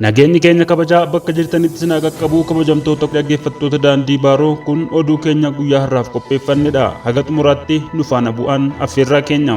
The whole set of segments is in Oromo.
Nageenyi keenya kabajaa bakka jirtanitti sinaa qaqqabuu kabajamtoota dhaggeeffattoota daandii baaroo kun oduu keenya guyyaa har'aaf qopheeffannedha. Haga xumuraatti nu faana bu'aan affeerraa keenya.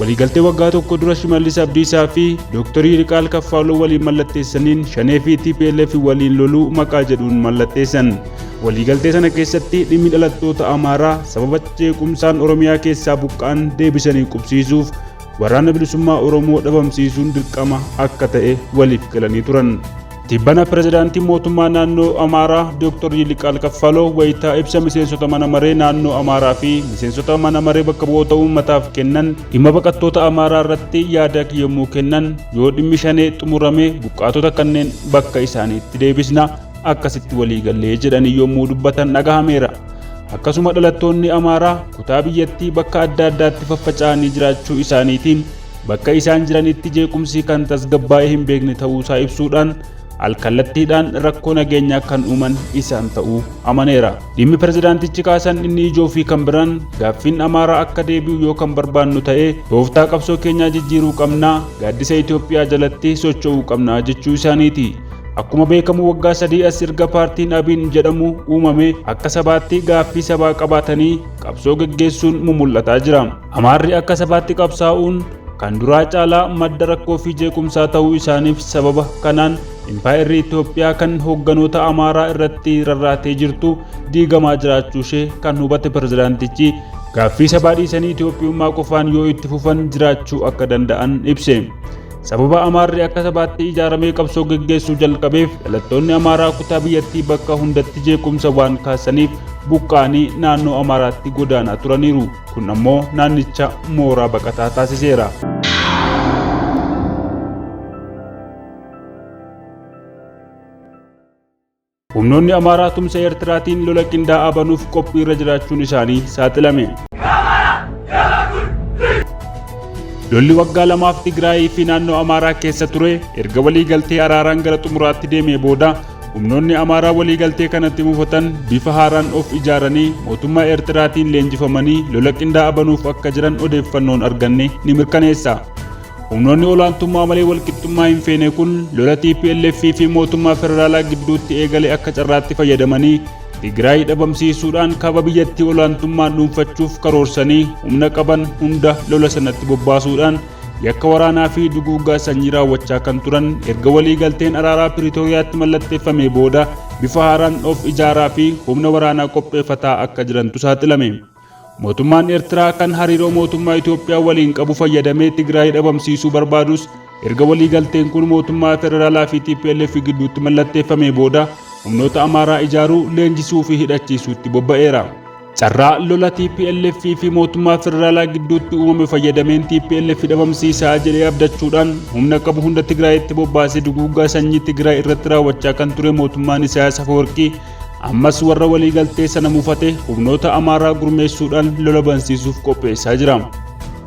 Waliigaltee waggaa tokko dura Shimallis Abdiisaa fi Dooktar Yiliqaal Kaffaaloo waliin mallatteessaniin Shanee fi TPLF waliin loluu maqaa jedhuun mallatteessan. Waliigaltee sana keessatti dhimmi dhalattoota Amaaraa sababa jeequmsaan Oromiyaa keessaa buqqa'an deebisanii qubsiisuuf Waraana Bilisummaa Oromoo dhabamsiisuun dirqama akka ta'e waliif galanii turan. Tibbana pirezidaantiin mootummaa naannoo Amaaraa Dooktar Yiliqaal Kaffaloo wayitaa ibsa miseensota mana maree naannoo Amaaraa fi miseensota mana maree bakka bu'oota uummataaf kennan dhimma baqattoota Amaaraa irratti yaada yommuu kennan yoo dhimmi shanee xumurame buqqaatota kanneen bakka isaaniitti deebisna akkasitti waliigallee jedhanii yommuu dubbatan dhagahameera. Akkasuma dhalattoonni Amaaraa kutaa biyyattii bakka adda addaatti faffaca'anii jiraachuu isaaniitiin bakka isaan jiranitti jeequmsi kan tasgabbaa'ee hin beekne ta'uusaa ibsuudhaan alkallattiidhaan rakkoo nageenyaa kan uuman isaan ta'uu amaneera. Dhimmi pirezidaantichi kaasan inni ijoo fi kan biraan gaaffiin Amaaraa akka deebi'u yoo kan barbaannu ta'e tooftaa qabsoo keenyaa jijjiiruu qabna, gaaddisa Itoophiyaa jalatti socho'uu qabna jechuu isaaniiti. Akkuma beekamu waggaa sadii as erga paartiin Abiin jedhamu uumame akka sabaatti gaaffii sabaa qabaatanii qabsoo geggeessuun mumul'ataa jira. Amaarri akka sabaatti qabsaa'uun kan duraa caalaa madda rakkoo fi jeequmsaa ta'uu isaaniif sababa kanaan impaayerri Itoophiyaa kan hoogganoota Amaaraa irratti rarraatee jirtu diigamaa jiraachuu ishee kan hubate pirezidaantichi gaaffii sabaa dhiisanii Itoophiyummaa qofaan yoo itti fufan jiraachuu akka danda'an ibse. Sababa Amaarri akka sabaatti ijaaramee qabsoo geggeessuu jalqabeef dhalattoonni Amaaraa kutaa biyyattii bakka hundatti jeequmsa waan kaasaniif buqqa'anii naannoo Amaaraatti godaanaa turaniiru. Kun ammoo naannicha mooraa baqataa taasiseera. Humnoonni Amaaraa tumsa Eertiraatiin lola qindaa'aa banuuf qophii irra jiraachuun isaanii saaxilame. Lolli waggaa lamaaf Tigraayii fi naannoo Amaaraa keessa ture erga walii galtee araaraan gara xumuraatti deemee booda Humnoonni Amaaraa waliigaltee kanatti mufatan bifa haaraan of ijaaranii mootummaa Eertiraatiin leenjifamanii lola qindaa'aa banuuf akka jiran odeeffannoon arganne ni mirkaneessa. Humnoonni olaantummaa malee walqixxummaa hin feene kun lola TPLF fi mootummaa federaalaa gidduutti eegale akka carraatti fayyadamanii Tigraay dhabamsiisuudhaan kaaba biyyattii olaantummaan dhuunfachuuf karoorsanii humna qaban hunda lola sanatti bobbaasuudhaan yakka waraanaa fi duguuggaa sanyii raawwachaa kan turan erga walii galteen araaraa Piriitooriyaatti mallatteeffamee booda bifa haaraan of ijaaraa fi humna waraanaa qopheeffataa akka jirantu saaxilame. Mootummaan Eertiraa kan hariiroo mootummaa Itoophiyaa waliin qabu fayyadamee Tigraay dhabamsiisuu barbaadus erga walii galteen kun mootummaa federaalaa fi TPLF gidduutti mallatteeffamee booda humnoota Amaaraa ijaaruu, leenjisuu fi hidhachiisuutti bobba'eera. Carraa lola TPLF fi mootummaa federaalaa gidduutti uumame fayyadameen TPLF dhabamsiisaa jedhee abdachuudhaan humna qabu hunda Tigraayitti bobbaasee duguuggaa sanyii Tigraay irratti raawwachaa kan ture mootummaan Isaayaas Afawarqii ammas warra waliigaltee sana mufate humnoota Amaaraa gurmeessuudhaan lola bansiisuuf qopheessaa jira.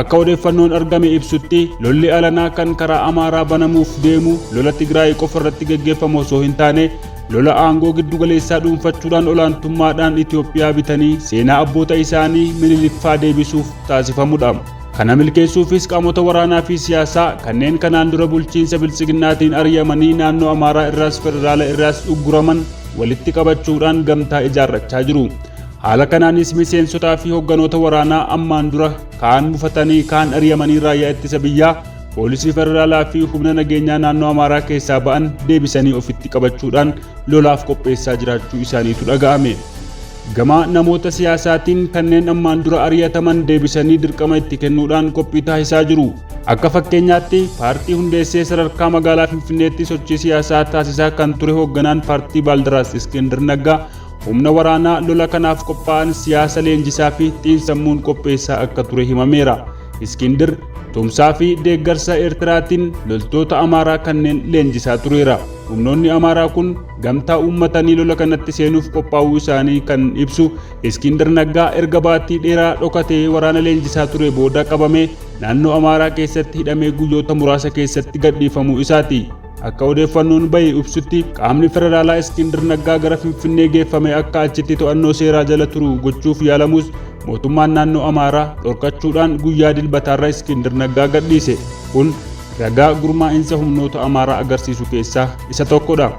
Akka odeeffannoon argame ibsutti lolli alanaa kan karaa Amaaraa banamuuf deemu lola Tigraay qofa irratti gaggeeffamu osoo hin taane Lola aangoo giddugaleessaa dhuunfachuudhaan olaantummaadhaan Itoophiyaa bitanii seenaa abboota isaanii Miniliffaa deebisuuf taasifamudha. Kana milkeessuufis qaamota waraanaa fi siyaasaa kanneen kanaan dura bulchiinsa biltsiginnaatiin ari'amanii naannoo Amaaraa irraas federaala irraas ugguraman walitti qabachuudhaan gamtaa ijaarrachaa jiru. Haala kanaanis miseensotaa fi hogganoota waraanaa ammaan dura kaan mufatanii kaan ari'amanii raayyaa ittisa biyyaa Poolisii Federaalaa fi humna nageenyaa naannoo Amaaraa keessaa ba'an deebisanii ofitti qabachuudhaan lolaaf qopheessaa jiraachuu isaaniitu dhaga'ame. Gama namoota siyaasaatiin kanneen ammaan dura ari'ataman deebisanii dirqama itti kennuudhaan qophii taasisaa jiru. Akka fakkeenyaatti paartii hundeessee sadarkaa magaalaa Finfinneetti sochii siyaasaa taasisaa kan ture hoogganaan paartii Baaldaraas Iskindir Naggaa humna waraanaa lola kanaaf qophaa'an siyaasa leenjisaa fi xiinsammuun qopheessaa akka ture himameera. Iskindir tumsaa fi deeggarsa Eertiraatiin loltoota Amaaraa kanneen leenjisaa tureera. Humnoonni Amaaraa kun gamtaa uummatanii lola kanatti seenuuf qophaa'uu isaanii kan ibsu Iskindir Naggaa erga baatii dheeraa dhokatee waraana leenjisaa ture booda qabamee naannoo Amaaraa keessatti hidhamee guyyoota muraasa keessatti gadhiifamuu isaati. Akka odeeffannoon bahe ibsutti qaamni federaalaa Iskindir Naggaa gara Finfinnee geeffame akka achitti to'annoo seeraa jala turu gochuuf yaalamus mootummaan naannoo Amaaraa dhorkachuudhaan guyyaa dilbataarra Iskindir Naggaa gadhiise. Kun ragaa gurmaa'insa humnoota Amaaraa agarsiisu keessaa isa tokkodha.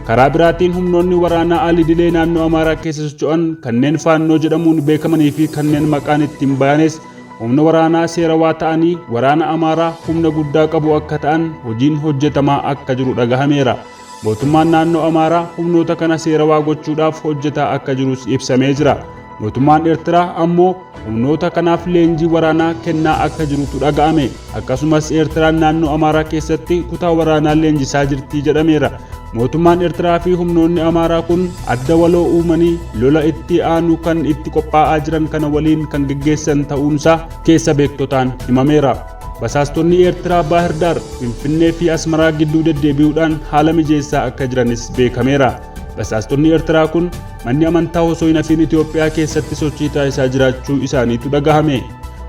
Karaa biraatiin humnoonni waraanaa alidilee naannoo Amaaraa keessa socho'an kanneen faannoo jedhamuun beekamanii fi kanneen maqaan ittiin bayanes Humna waraanaa seerawaa ta'anii waraana Amaaraa humna guddaa qabu akka ta'an hojiin hojjetamaa akka jiru dhagahameera. Mootummaan naannoo Amaaraa humnoota kana seerawaa gochuudhaaf hojjetaa akka jirus ibsamee jira. Mootummaan Eertiraa ammoo humnoota kanaaf leenjii waraanaa kennaa akka jirutu dhaga'ame. Akkasumas Eertiraan naannoo Amaaraa keessatti kutaa waraanaa leenjisaa jirti jedhameera. Mootummaan Eertiraa fi humnoonni Amaaraa kun adda waloo uumanii lola itti aanu kan itti qophaa'aa jiran kana waliin kan geggeessan ta'uunsaa keessa beektotaan himameera. Basaastonni Eertiraa Baahirdaar, Finfinnee fi Asmaraa gidduu deddeebi'uudhaan haala mijeessaa akka jiranis beekameera. Basaastonni Eertiraa kun manni amantaa osoo hin hafiin Itoophiyaa keessatti sochii taasisaa jiraachuu isaaniitu dhagahame.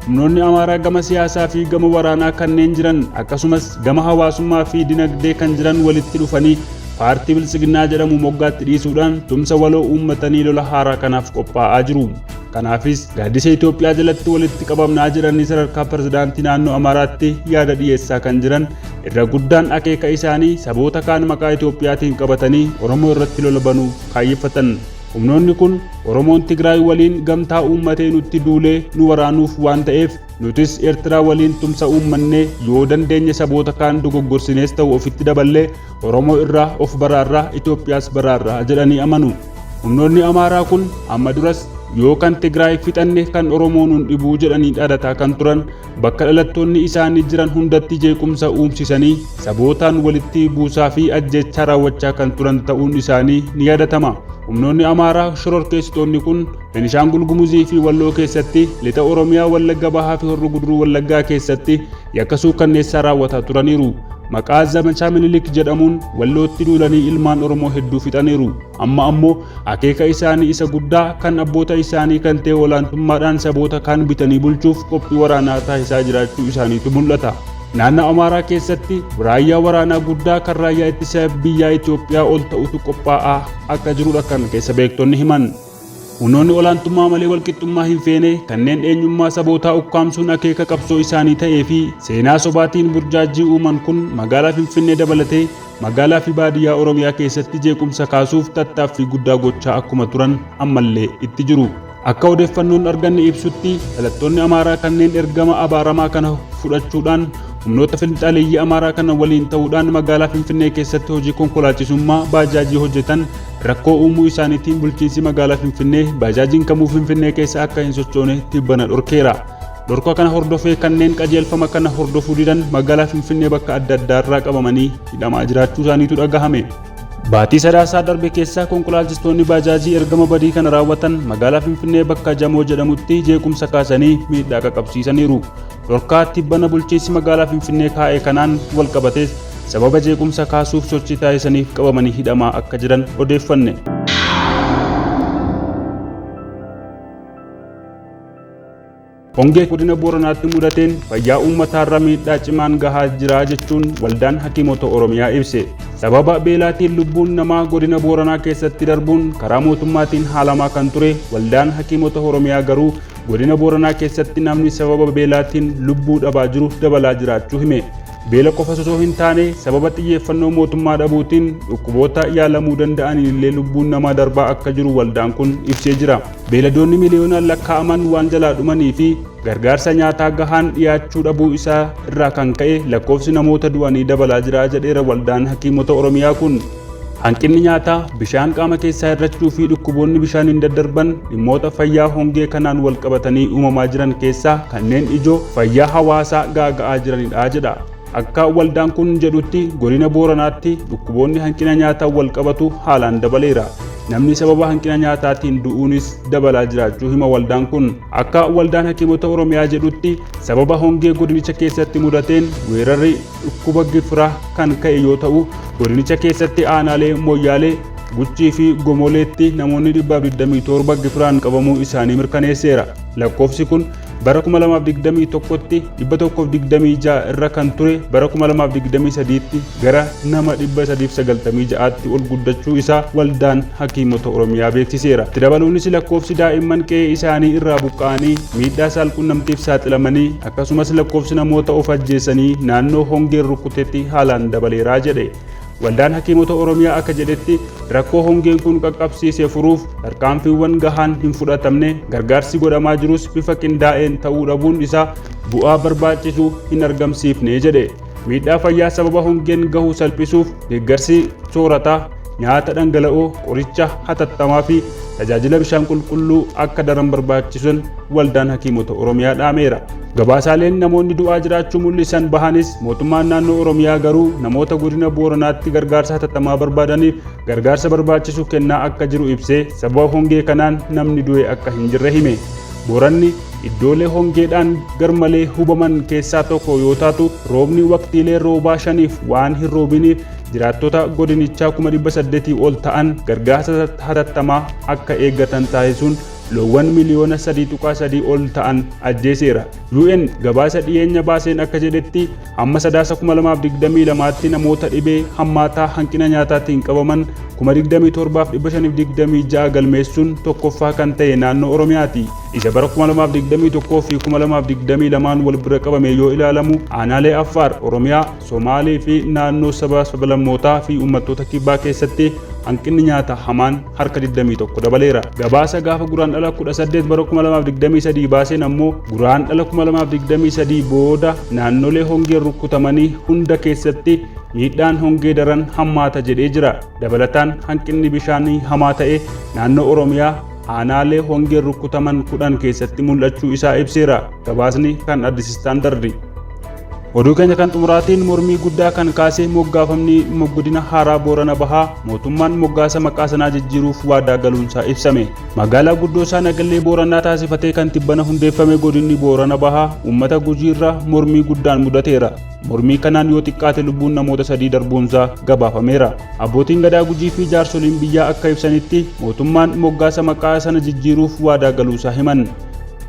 Humnoonni Amaaraa gama siyaasaa fi gama waraanaa kanneen jiran akkasumas gama hawaasummaa fi dinagdee kan jiran walitti dhufanii paartii Biltsiginnaa jedhamu moggaatti dhiisuudhaan tumsa waloo uummatanii lola haaraa kanaaf qophaa'aa jiru. Kanaafis gaaddisa Itoophiyaa jalatti walitti qabamnaa jedhanii sadarkaa pirezidaantii naannoo Amaaraatti yaada dhiyeessaa kan jiran irra guddaan akeeka isaanii saboota kaan maqaa Itoophiyaatiin qabatanii Oromoo irratti lola banuuf kaayyeffatan. Humnoonni kun Oromoon Tigraay waliin gamtaa uummatee nutti duulee nu waraanuuf waan ta'eef nutis Eertiraa waliin tumsa uummannee yoo dandeenye saboota kaan dogoggorsinees ta'u ofitti daballee Oromoo irraa of baraarra Itoophiyaas baraarra jedhanii amanu. Humnoonni Amaaraa kun amma duras yoo kan Tigraay fixanne kan Oromoo nun dhibuu jedhanii dhaadataa kan turan bakka dhalattoonni isaanii jiran hundatti jeequmsa uumsisanii sabootaan walitti buusaa fi ajjechaa raawwachaa kan turan ta'uun isaanii ni yaadatama. Humnoonni Amaaraa shororkeessitoonni kun Benishaangul Gumuzii fi Walloo keessatti lixa Oromiyaa Wallagga Bahaa fi Horroo Guduruu Wallaggaa keessatti yakka suukkanneessaa raawwataa turaniiru. Maqaa zamachaa Minilik jedhamuun Wallootti duulanii ilmaan Oromoo hedduu fixaniiru. Amma ammoo akeeka isaanii isa guddaa kan abboota isaanii kan ta'e olaantummaadhaan saboota kaan bitanii bulchuuf qophii waraanaa taasisaa jiraachuu isaaniitu mul'ata. Naannoo Amaaraa keessatti raayyaa waraanaa guddaa kan raayyaa ittisa biyyaa Itoophiyaa ol ta'utu qophaa'aa akka jirudha kan keessa beektonni himan. Humnoonni olaantummaa malee walqixxummaa hin feene kanneen eenyummaa sabootaa ukkaamsuun akeeka qabsoo isaanii ta'ee fi seenaa sobaatiin burjaajjii uuman kun magaalaa Finfinnee dabalatee Magaalaa fi baadiyyaa Oromiyaa keessatti jeequmsa kaasuuf tattaaffii guddaa gochaa akkuma turan ammallee itti jiru. Akka odeeffannoon arganne ibsutti dhalattoonni Amaaraa kanneen ergama abaaramaa kana fudhachuudhaan humnoota finxaaleeyyii Amaaraa kana waliin ta'uudhaan magaalaa Finfinnee keessatti hojii konkolaachisummaa baajaajii hojjetan rakkoo uumuu isaaniitiin bulchiinsi magaalaa Finfinnee baajaajiin kamuu Finfinnee keessa akka hin sochoone tibbana dhorkeera. Dhorka kana hordofee kanneen qajeelfama kana hordofuu didan magaalaa Finfinnee bakka adda addaarraa qabamanii hidhamaa jiraachuu isaaniitu dhagahame. Baatii Sadaasaa darbe keessaa konkolaachistoonni baajaajii ergama badii kana raawwatan magaalaa Finfinnee bakka Jamoo jedhamutti jeequmsa kaasanii miidhaa qaqabsiisaniiru. Dhorkaa tibbana bulchiinsi magaalaa Finfinnee kaa'e kanaan walqabatees sababa jeequmsa kaasuuf sochii taasisaniif qabamanii hidhamaa akka jiran odeeffanne. Hongee godina Booranaatti mudateen fayyaa uummataarra miidhaa cimaan gahaa jira jechuun waldaan hakiimota Oromiyaa ibse. Sababa beelaatiin lubbuun namaa godina Booranaa keessatti darbuun karaa mootummaatiin haalamaa kan ture waldaan hakiimota Oromiyaa garuu godina Booranaa keessatti namni sababa beelaatiin lubbuu dhabaa jiru dabalaa jiraachuu hime. Beela qofa osoo hin taane sababa xiyyeeffannoo mootummaa dhabuutiin dhukkuboota yaalamuu danda'aniin illee lubbuun namaa darbaa akka jiru waldaan kun ibsee jira. beeladoonni miliyoonaan lakkaa'aman waan jalaa dhumanii fi gargaarsa nyaataa gahaan dhiyaachuu dhabuu isaa irraa kan ka'e lakkoofsi namoota du'anii dabalaa jira jedheera waldaan hakiimota Oromiyaa kun. Hanqinni nyaataa, bishaan qaama keessaa hir'achuu fi dhukkuboonni bishaaniin daddarban dhimmoota fayyaa hongee kanaan walqabatanii uumamaa jiran keessaa kanneen ijoo fayyaa hawaasaa gaaga'aa jiranidha jedha. Akka waldaan kun jedhutti godina Booranaatti dhukkuboonni hanqina nyaataan wal qabatu haalaan dabaleera. Namni sababa hanqina nyaataatiin du'uunis dabalaa jiraachuu hima waldaan kun. Akka waldaan hakiimota Oromiyaa jedhutti sababa hongee godinicha keessatti mudateen weerarri dhukkuba gifiraa kan ka'e yoo ta'u godinicha keessatti aanaalee Moyyaalee, Guchii fi Gomoleetti namoonni 127 gifiraan qabamuu isaanii mirkaneesseera. Lakkoofsi kun bara 2021tti 126 irra kan ture bara 2023tti gara nama 396tti ol guddachuu isaa waldaan hakiimota Oromiyaa beeksiseera. Itti dabaluunis lakkoofsi daa'imman qe'ee isaanii irraa buqqa'anii miidhaa saalqunnamtiif saaxilamanii akkasumas lakkoofsi namoota of ajjeesanii naannoo hongeen rukutetti haalaan dabaleeraa jedhe. Waldaan Hakiimota Oromiyaa akka jedhetti rakkoo hongeen kun qaqqabsiise furuuf tarkaanfiiwwan gahaan hin fudhatamne gargaarsi godhamaa jirus bifa qindaa'een ta'uu dhabuun isaa bu'aa barbaachisu hin argamsiifne jedhe. Miidhaa fayyaa sababa hongeen gahu salphisuuf deeggarsi soorataa, nyaata dhangala'oo, qoricha hatattamaa fi tajaajila bishaan qulqulluu akka daran barbaachisan waldaan hakiimota Oromiyaa dhaameera. Gabaasaaleen namoonni du'aa jiraachuu mul'isan bahanis mootummaan naannoo Oromiyaa garuu namoota godina Booranaatti gargaarsa hatattamaa barbaadaniif gargaarsa barbaachisu kennaa akka jiru ibsee sababa hongee kanaan namni du'e akka hin jirre hime. Booranni iddoolee hongeedhaan garmalee hubaman keessaa tokko yoo taatu roobni waqtiilee roobaa shaniif waan hin roobiniif jiraattota godinichaa kuma dhibba saddeetii ol ta'an gargaarsa hatattamaa akka eeggatan taasisuun loowwan miliyoona 3.3 ol ta'an ajjeeseera. UN gabaasa dhiyeenya baaseen akka jedhetti hamma sadaasa 2022tti namoota dhibee hammaataa hanqina nyaataatiin qabaman 27,526 galmeessuun tokkoffaa kan ta'e naannoo Oromiyaati. Isa bara 2021 fi 2022n wal bira qabamee yoo ilaalamu aanaalee Affaar, Oromiyaa, Somaalee fi naannoo saba sablammootaa fi uummattoota kibbaa keessatti hanqinni nyaata hamaan harka 21 dabaleera. Gabaasa gaafa Guraandhala 18 bara 2023 baaseen ammoo Guraandhala 2023 booda naannolee hongeen rukkutamanii hunda keessatti miidhaan hongee daran hammaata jedhee jira. Dabalataan hanqinni bishaanii hamaa ta'e naannoo Oromiyaa aanaalee hongeen rukkutaman kudhan keessatti mul'achuu isaa ibseera. Gabaasni kan Addis Istaandardi. Oduu keenya kan xumuraatiin mormii guddaa kan kaasee moggaafamni godina haaraa Boorana Bahaa mootummaan moggaasa maqaa sanaa jijjiiruuf waadaa galuunsaa ibsame. Magaalaa guddoo isaa Nagallee Booranaa taasifatee kan tibbana hundeeffame godinni Boorana Bahaa uummata gujiirra mormii guddaan mudateera. Mormii kanaan yoo xiqqaate lubbuun namoota sadii darbuunsaa gabaafameera. Abbootiin gadaa gujii fi jaarsoliin biyyaa akka ibsanitti mootummaan moggaasa maqaa sana jijjiiruuf waadaa galuusaa himan.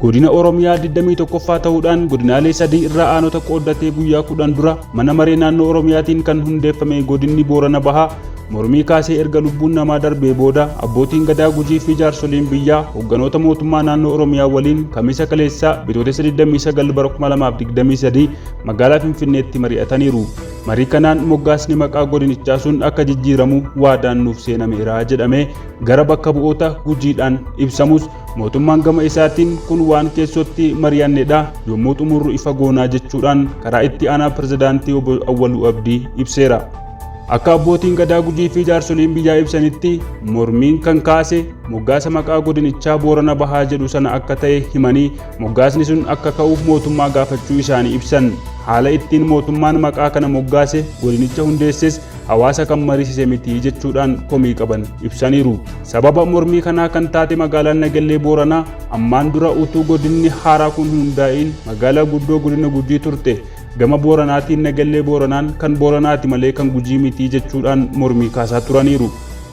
Godina Oromiyaa 21ffaa ta'uudhaan godinaalee sadii irraa aanota qooddatee guyyaa kudhan dura mana maree naannoo Oromiyaatiin kan hundeeffame godinni Boorana Bahaa mormii kaasee erga lubbuun namaa darbee booda abbootiin gadaa gujii fi jaarsoliin biyyaa hogganoota mootummaa naannoo Oromiyaa waliin kamisa kaleessaa bitootessa 29 bara 2023 magaalaa Finfinneetti mari'ataniiru. Marii kanaan moggaasni maqaa godinichaa sun akka jijjiiramu waadaan nuuf seenameera jedhamee gara bakka bu'oota gujiidhaan ibsamus Mootummaan gama isaatiin kun waan keessootti mari'annedha yommuu xumurru ifa goonaa jechuudhaan karaa itti aanaa pirezidaantii obbo Awwaluu Abdii ibseera. Akka abbootiin gadaa gujii fi jaarsoliin biyyaa ibsanitti mormiin kan kaase moggaasa maqaa godinichaa Boorana Bahaa jedhu sana akka ta'e himanii moggaasni sun akka ka'uuf mootummaa gaafachuu isaanii ibsan. Haala ittiin mootummaan maqaa kana moggaase godinicha hundeesses hawaasa kan mariisise miti jechuudhaan komii qaban ibsaniiru. Sababa mormii kanaa kan taate magaalaan Nagellee Booranaa ammaan dura utuu godinni haaraa kun hundaa'iin magaalaa guddoo godina Gujii turte. Gama Booranaatiin Nagellee Booranaan kan Booranaati malee kan Gujii miti jechuudhaan mormii kaasaa turaniiru.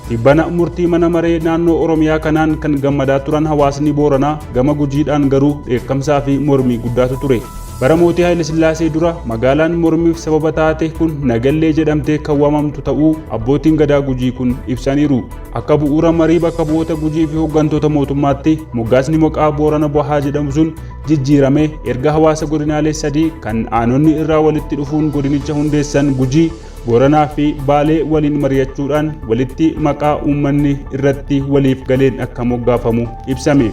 Tibbana murtii mana maree naannoo Oromiyaa kanaan kan gammadaa turan hawaasni Booranaa gama Gujiidhaan garuu dheekkamsaa fi mormii guddaatu ture. Bara mootii Haayilasillaasee dura magaalaan mormiif sababa taate kun Nagallee jedhamtee kan waamamtu ta'uu abbootiin gadaa Gujii kun ibsaniiru. Akka bu'uura marii bakka bu'oota Gujii fi hooggantoota mootummaatti moggaasni maqaa Boorana Bahaa jedhamu sun jijjiiramee erga hawaasa godinaalee sadii kan aanonni irraa walitti dhufuun godinicha hundeessan Gujii, Booranaa fi Baalee waliin mari'achuudhaan walitti maqaa uummanni irratti waliif galeen akka moggaafamu ibsame.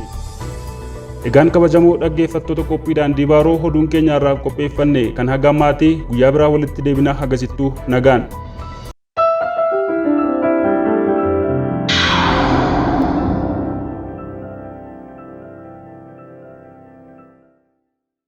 Egaan kabajamoo dhaggeeffattoota qophii daandii baaroo hoduun keenya irraaf qopheeffanne kan haga ammaati guyyaa biraa walitti deebinaa hagasittuu nagaan.